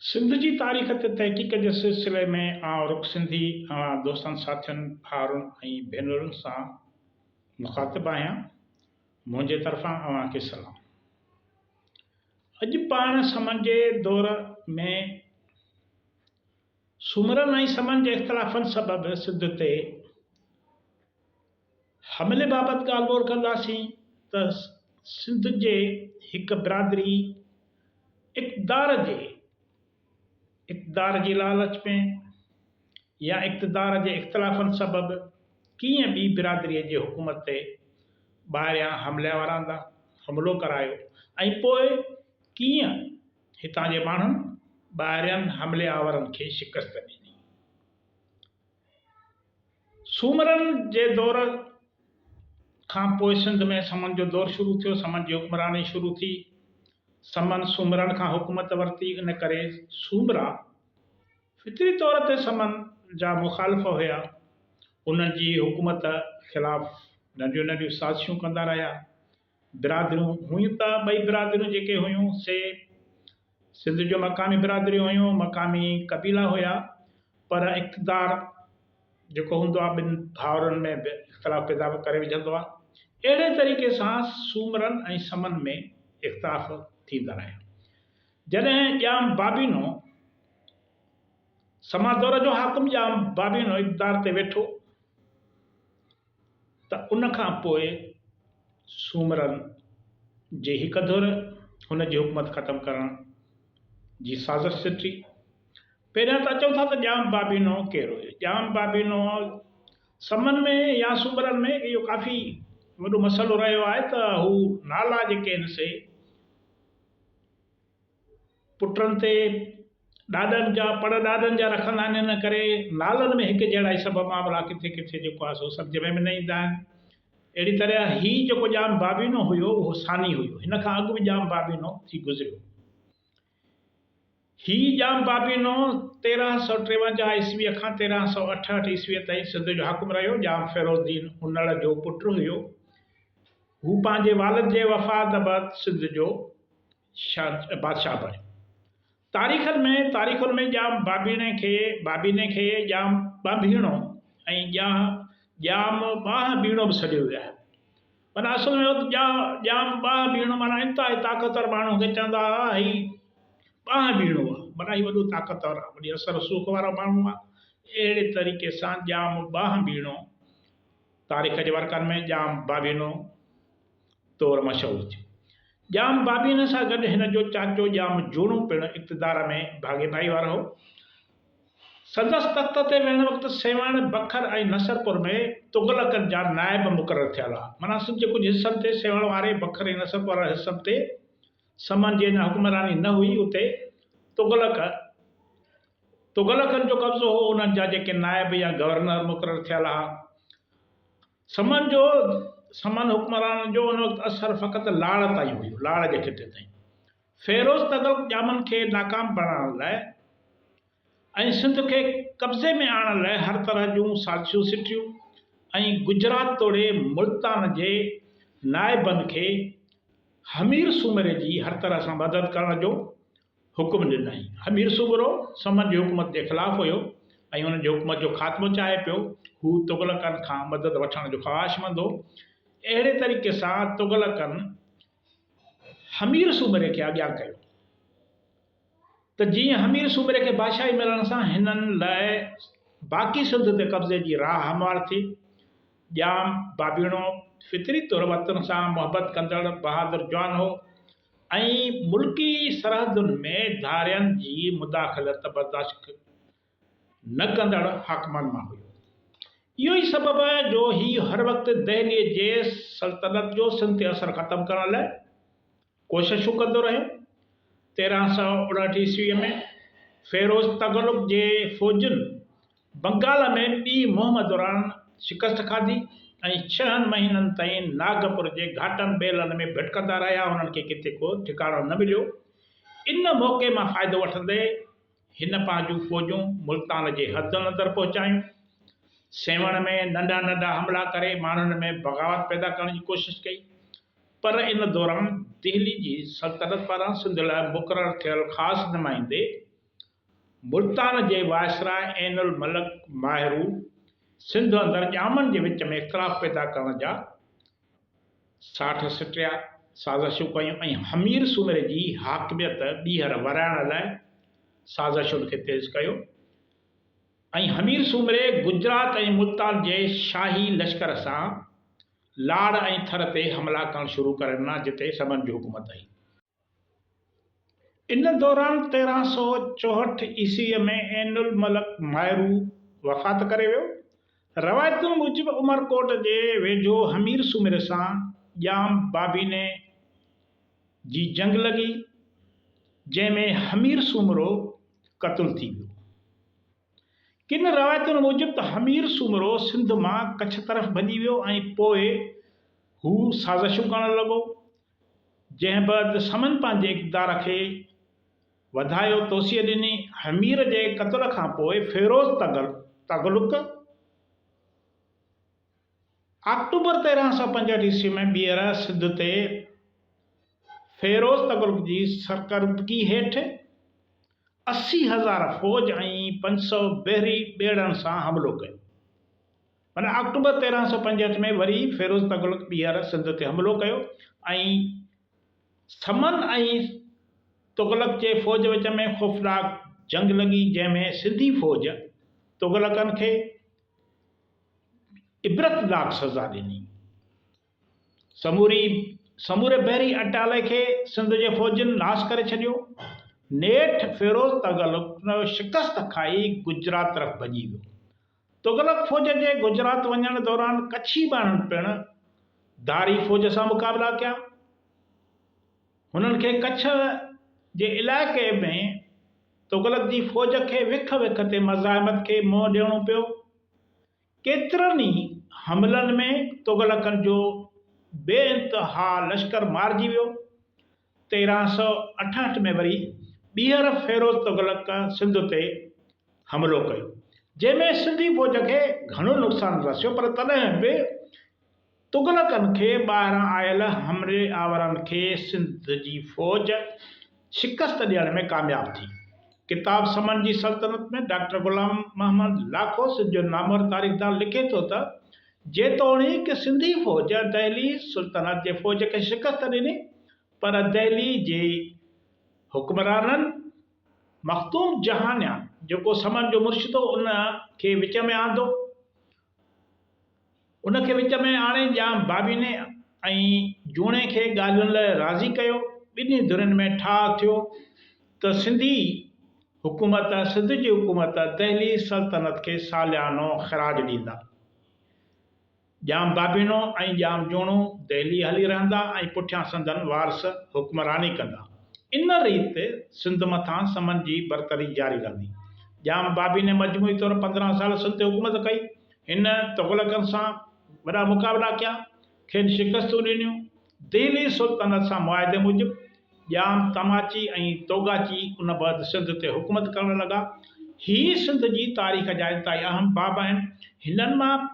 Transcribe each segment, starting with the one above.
سنڌ جي تاريخ تي تحقيق جي سلسلي ۾ آئون رڳ سنڌي اوهان دوستن ساٿين ڀائرن ۽ ڀينرن سان مخاطب آهيان منهنجي طرفان اوهان کي سلام اڄ پاڻ سمن جي دور ۾ سومرن ۽ سمن جي اختلافن سبب سنڌ تي حملي بابت ڳالهه ٻولهه ڪنداسين ته سنڌ جي هڪ برادري اقتدار جي اقتدار جي لالچ ۾ يا اقتدار جي اختلافن سبب ڪيئن ٻي برادري جي حڪومت تي ٻاهريان حمله وراندان حملو ڪرايو ۽ پوء ڪيئن هتان جي ماڻهن ٻاهرين حملي آورن کي شڪست ڏني. سومرن جي دور کان پوء سنڌ ۾ سمن جو دور شروع ٿيو. سمن جي حڪمراني شروع ٿي. سمن سومرن کان حڪومت ورتي، ان ڪري سومرا فطري طور تي سمن جا مخالف هيا. انهن جي حڪومت خلاف ننڍيون ننڍيون سازشون ڪندا رهيا. برادريون هيون ته ٻئي برادريون جيڪي هيون سي سنڌ جون مقامي برادريون هيون، مقامي قبيلا هيا پر اقتدار جيڪو هوندو آهي ٻن ڀائرن ۾ به اختلاف پيدا ڪري وجهندو آهي اهڙي طريقي سان سومرن ۽ سمن ۾ اختلاف ٿيندا رهيا جڏهن ڄام بابينو سما دور جو حاڪم ڄام بابينو اقتدار تي ويٺو ته ان کان پوء سومرن جي هڪ ڌر هن جي حڪومت ختم ڪرڻ جي سازش سٽي. پهريان ته اچون ٿا ته ڄام بابي نوح ڪير هيو؟ ڄام بابي نوح سمن ۾ يا سومرن ۾ اهو ڪافي وڏو مسئلو رهيو آهي ته هو نالا جيڪي آهن سي پٽن تي ڏاڏن جا پڙ ڏاڏن جا رکندا آهن ان ڪري نالن ۾ هڪ جهڙا هي سڀ معاملا ڪٿي ڪٿي جيڪو آهي سو سمجهه ۾ به نه ايندا آهن اهڙي طرح هي جيڪو ڄام بابينو هيو اهو ثاني هيو هن کان اڳ به ڄام بابينو ٿي گذريو هي ڄام بابينو تيرهن سؤ ٽيونجاهه عيسويء کان تيرهن سؤ اٺهٺ عيسويء تائين سنڌ جو حاڪم رهيو ڄام فيروز الدين انڙ جو پٽ هيو هو پنهنجي والد جي وفات بعد سنڌ جو شاهه بادشاهه بڻيو. تاريخن ۾ تاريخن ۾ ڄام ٻانڀيڻي کي ٻانڀيني کي ڄام ٻانڀيڻو ۽ ڄانهه ڄام ٻانهه ٻيڻو به سڏيو ويو آهي. معنيٰ اصل ۾ هت ڄانهه ڄام ٻانهه ٻيڻو معنيٰ انتهائي طاقتور ماڻهوء کي چوندا هئا هي ٻانهه ٻيڻو آهي معنيٰ هي وڏو طاقتور آهي وڏي اثر رسوخ وارو ماڻهو آهي اهڙي طريقي سان ڄام ٻانهه ٻيڻو تاريخ جي ورقن ۾ ڄام ٻانڀينو طور مشهور ٿيو. ڄام بابين سان گڏ هن جو چاچو ڄام جوڻو پڻ اقتدار ۾ ڀاڳيداري وارو هو. سندس تخت تي ويهڻ وقت سيوهڻ، بکر ۽ نصرپور ۾ تغلقن جا نائب مقرر ٿيل هئا. معنيٰ سنڌ جي ڪجهه حصن تي سيوهڻ واري، بکر ۽ نصرپور وارن حصن تي سمن جي اڃا حڪمراني نه هئي، اتي تغلق، تغلقن جو قبضو هو، انهن جا جيڪي نائب يا گورنر مقرر ٿيل هئا، سمن جو سمن حڪمرانن جو ان وقت اثر فقط لاڙ تائين هيو، لاڙ جي خطي تائين. فيروز تغلق ڄامن کي ناڪام بڻائڻ لاء ۽ سنڌ کي قبضي ۾ آڻڻ لاء هر طرح جون سازشون سٽيون ۽ گجرات توڙي ملتان جي نائبن کي همير سومري جي هر طرح سان مدد ڪرڻ جو حڪم ڏنائين. امير صغرو سمن جي حڪومت جي خلاف هيو ۽ انهن جي حڪومت جو خاتمو چاهي پيو. هو تغلقن کان مدد وٺڻ جو خواهشمند هو. اهڙي طريقي سان تغلقن حمير سومري کي آجيان ڪيو ته جيئن حمير سومري کي بادشاهي ملڻ سان هنن لاء باقي سنڌ تي قبضي جي راهه هموار ٿي. ڄام بابيڻو فطري طور وطن سان محبت ڪندڙ بهادر جوان هو. ۽ ملڪي سرحدن ۾ ڌارين جي مداخلت برداشت نه ڪندڙ حاڪمن مان هيو. اهو ئي سبب آهي جو هي هر وقت دهليء جي سلطنت جو سنڌ تي اثر ختم ڪرڻ لاء ڪوششون ڪندو رهيو. تيرهن سؤ اڻهٺ عيسويء ۾ فيروز تغلق جي فوجن بنگال ۾ ٻي مهم دوران شڪست کاڌي ۽ ڇهن مهينن تائين ناگپور جي گهاٽن ٻيلن ۾ ڀٽڪندا رهيا، هنن کي ڪٿي ڪو ٺڪاڻو نه مليو. ان موقعي مان فائدو وٺندي هن پنهنجون فوجون ملتان جي حدن اندر پهچايون. سيوهڻ ۾ ننڍا ننڍا حملا ڪري ماڻهن ۾ بغاوت پيدا ڪرڻ جي ڪوشش ڪئي پر ان دوران دهلي جي سلطنت پاران سنڌ لاء مقرر ٿيل خاص نمائندي ملتان جي وائسراء عين الملڪ ماهرو سنڌ اندر ڄامن جي وچ ۾ اختلاف پيدا ڪرڻ جا ساٺ سٽيا، سازشون ڪيون ۽ همير سومري جي حاڪميت ٻيهر ورهائڻ لاء سازشن کي تيز ڪيو ۽ همير سومري گجرات ۽ ملتان جي شاهي لشڪر سان لاڙ ۽ ٿر تي حملا ڪرڻ شروع ڪري ڏنا جتي سمن جي حڪومت هئي. ان دوران تيرهن سؤ چوهٺ عيسويء ۾ عين الملڪ مائرو وفات ڪري ويو. روايتن موجب عمرڪوٽ جي ويجهو همير سومري سان ڄام بابيني جي جنگ لڳي، جنهن ۾ همير سومرو قتل ٿي ويو. ڪن روايتن موجب ته همير سومرو سنڌ مان ڪڇ طرف ڀڄي ويو ۽ پوء هو سازشون ڪرڻ لڳو. جنهن بعد سمن پنهنجي اقتدار کي وڌايو توسيع ڏني. حمير جي قتل کان پوء فيروز تغلق آڪٽوبر تيرهن سؤ پنجهٺ عيسوي ۾ ٻيهر سنڌ تي فيروز تغلق جي سرڪردگي هيٺ اسي هزار فوج ۽ پنج سؤ بحري ٻيڙن سان حملو ڪيو. ان آڪٽوبر تيرهن سؤ پنجهٺ ۾ وري فيروز تغلق ٻيهر سنڌ تي حملو ڪيو ۽ سمن ۽ تغلق جي فوج وچ ۾ خوفناڪ جنگ لڳي جنهن ۾ سنڌي فوج تغلقن کي عبرتناڪ سزا ڏني. سموري سموري بحري اٽالي کي سنڌ جي فوجن ناس ڪري ڇڏيو. نيٺ فيروز تغلق شڪست کائي گجرات طرف ڀڄي ويو. تغلق فوج جي گجرات وڃڻ دوران ڪڇي ٻانهن پڻ ڌاري فوج سان مقابلا ڪيا. هنن کي ڪڇ جي علائقي ۾ تغلق جي فوج کي وک وک تي مزاحمت کي منهن ڏيڻو پيو. ڪيترن ئي حملن ۾ تغلقن جو بي انتها لشڪر مارجي ويو. تيرهن سؤ اٺاهٺ ۾ وري ٻيهر فيروز تغلق سنڌ تي حملو ڪيو، جنهن ۾ سنڌي فوج کي گهڻو نقصان رسيو پر تڏهن به تغلقن کي ٻاهران آيل حملي آورن کي سنڌ جي فوج شڪست ڏيڻ ۾ ڪامياب ٿي. ڪتاب سمن جي سلطنت ۾ ڊاڪٽر غلام محمد لاکو سنڌ جو نامور تاريخدان لکي ٿو ته جيتوڻيڪ سنڌي فوج دهلي سلطنت جي فوج کي شڪست ڏني پر دهلي جي حڪمرانن مخدوم جهانيان جيڪو سمن جو مرشد هو ان کي وچ ۾ آندو ان کي وچ ۾ آڻي ڄام بابيني ۽ جوڻي کي ڳالهين لاء راضي ڪيو ٻنهي ڌرين ۾ ٺاهه ٿيو ته سنڌي حڪومت سنڌ جي حڪومت دهلي سلطنت کي ساليانو خراج ڏيندا. ڄام بابينو ۽ ڄام جوڻو دهلي هلي رهندا ۽ پٺيان سندن وارث حڪمراني ڪندا. ان ريت سنڌ مٿان سمن جي برتري جاري رهندي. ڄام بابيني مجموعي طور پندرهن سال سنڌ تي حڪومت ڪئي. هن تغلقن سان وڏا مقابلا ڪيا، کين شڪستون ڏنيون. دهلي سلطنت سان معاهدي موجب ڄام تماچي ۽ توگاچي ان بعد سنڌ تي حڪومت ڪرڻ لڳا. هي سنڌ جي تاريخ جا انتهائي اهم باب آهن. هنن مان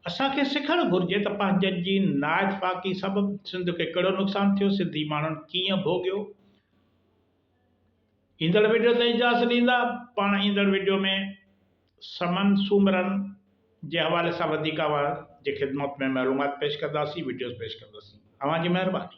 اسان کي سکڻ گهرجي ته پنهنجن جي نااتفاقي سبب سنڌ کي ڪهڙو نقصان ٿيو، سنڌي ماڻهن ڪيئن ڀوڳيو. ايندڙ وڊيو تي اجازت ڏيندا. پاڻ ايندڙ وڊيو ۾ سمن سومرن جي حوالي سان وڌيڪ اوهان جي خدمت ۾ معلومات پيش ڪنداسين وڊيوز پيش ڪنداسين. اوهان جي مهرباني.